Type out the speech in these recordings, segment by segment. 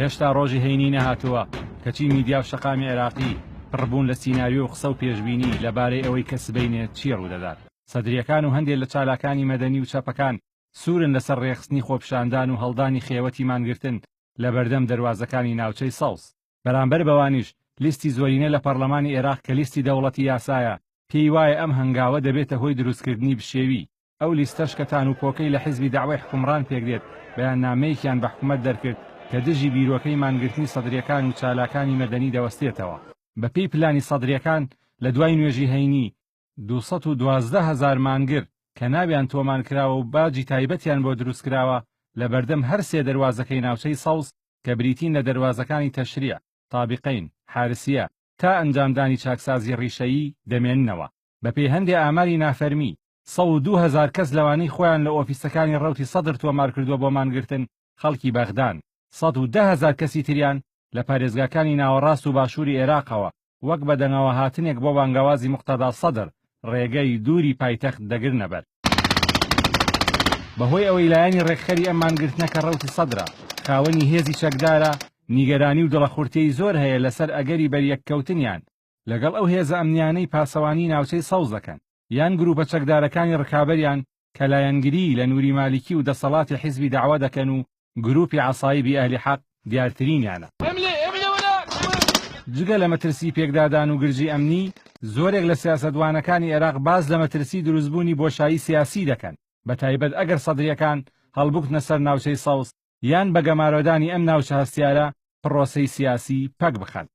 هێشتا ڕۆژی هەینی نەهاتووە کەچی میدیا و شەقامی عێراقی پڕبوون لە سیناریۆ و قسە و پێشبینی لەبارەی ئەوەی کە سبەینێ چی ڕوودەدات سەدرییەکان و هەندێ لە چالاکانی مەدەنی و چەپەکان سوورن لەسەر ڕێکخستنی خۆپیشاندان و هەڵدانی خێوەتی مانگرتن لەبەردەم دەروازەکانی ناوچەی سەوز. بەرامبەر بەوانیش لیستی زۆرینە لە پەڕلەمانی ئێراق کە لیستی دەوڵەتی یاسایە پێی وایە ئەم هەنگاوە دەبێتە هۆی دروستکردنی بشێوی، ئەو لیستەش کە تان و پۆکەی لە حیزبی دەعوەی حکومڕان پێکدێت بەیاننامەیەکیان بە حکومەت دەرکرد کە دژی بیرۆکەی مانگرتنی سەدریەکان و چالاکانی مەدەنی دەوەستێتەوە. بەپێی پلانی سەدریەکان لە دوای نوێژی هەینی دوو سەد و دوازدە هەزار مانگر کە ناویان تۆمانکراوە و باجی تایبەتیان بۆ دروستکراوە لەبەردەم هەر سێ دەروازەکەی ناوچەی سەوز کە بریتین لە دەروازەکانی تەشریع، طابقین، حارسیە، تا ئەنجامدانی چاکسازی ڕیشەیی دەمێننەوە. بەپێی هەندێ ئاماری نافەرمی، سەد و دوو هەزار کەس لەوانەی خۆیان لە ئۆفیسەکانی ڕەوتی سەدر تۆمارکردووە بۆ مانگرتن، خەڵکی بەغدان، سەد و دە هەزار کەسی تریان لە پارێزگاکانی ناوەڕاست و باشووری ئێراقەوە وەک بەدەنگەوەهاتنێک بۆ بانگەوازی موقتەدا سەدر ڕێگەی دووری پایتەخت دەگرنە بەر. بەهۆی ئەوەی لایەنی ڕێکخەری ئەم مانگرتنە کە ڕەوتی سەدرە، خاوەنی هێزی چەکدارە، نیگەرانی و دڵەخورتێی زۆر هەیە لەسەر ئەگەری بەریەککەوتنیان لەگەڵ ئەو هێزە ئەمنییانەی پاسەوانی ناوچەی سەوز دەکەن، یان گرووپە چەکدارەکانی ڕکابەریان کە لایەنگریی لە نوری مالکی و دەسەڵاتی حیزبی دەعوە دەکەن و گرووپی عەسایبی ئەهلی حەق دیارترینیانە. جگە لە مەترسیی پێکدادان و گرژیی ئەمنی، زۆرێک لە سیاسەتوانەکانی ئێراق باس لە مەترسیی دروستبوونی بۆشایی سیاسیی دەکەن، بەتایبەت ئەگەر سەدرییەکان هەڵبکوتنە سەر ناوچەی سەوز، یان بە گەمارۆدانی ئەم ناوچە هەستیارە پڕۆسەی سیاسی پەک بخەن.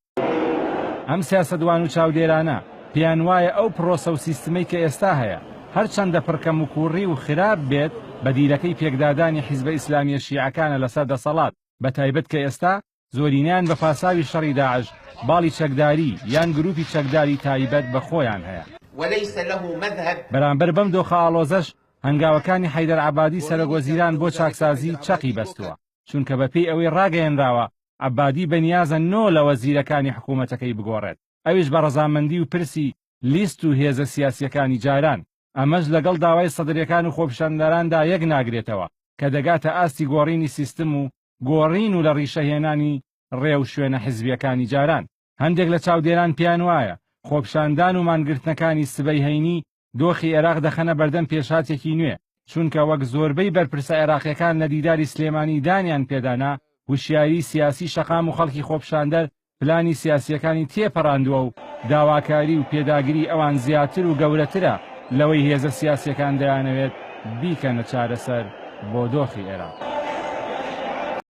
ئەم سیاسەتوان و چاودێرانە پێیان وایە ئەو پڕۆسە و سیستمەی کە ئێستا هەیە، هەرچەندە پڕ کەموکووڕی و خراپ بێت، بەدیلەکەی پێکدادانی حیزبە ئیسلامییە شیعەکانە لەسەر دەسەڵات، بەتایبەت کە ئێستا زۆرینەیان بە پاساوی شەڕی داعش باڵی چەکداری یان گرووپی چەکداری تایبەت بە خۆیان هەیە. وليس له مذهب. بەرامبەر بەم دۆخە ئاڵۆزەش هەنگاوەکانی حەیدەر عەبادی سەرۆک وەزیران بۆ چاکسازی چەقی بەستووە، چونکە بەپێی ئەوەی ڕاگەیەنراوە عەبادی بەنیازە نۆ لە وەزیرەکانی حکوومەتەکەی بگۆڕێت، ئەویش بە ڕەزامەندی و پرسی لیست و هێزە سیاسییەکانی جاران، ئەمەش لەگەڵ داوای سەدرەکان و خۆپیشاندەراندا یەک ناگرێتەوە کە دەگاتە ئاستی گۆڕینی سیستم و گۆڕین و لە ڕیشە هێنانی ڕێ و شوێنە حزبییەکانی جاران. هەندێک لە چاودێران پێیان وایە، خۆپیشاندان و مانگرتنەکانی سبەی هەینی دۆخی عێراق دەخەنە بەردەم پێشهاتێکی نوێ، چونکە وەک زۆربەی بەرپرسە عێراقییەکان لە دیداری سلێمانی دانیان پێدا نا، وشیاریی سیاسیی شەقام و خەڵکی خۆپیشاندەر پلانی سیاسییەکانی تێپەڕاندووە و داواکاری و پێداگری ئەوان زیاتر و گەورەترە لەوەی هێزە سیاسییەکان دەیانەوێت بیکەنە چارەسەر بۆ دۆخی عێراق.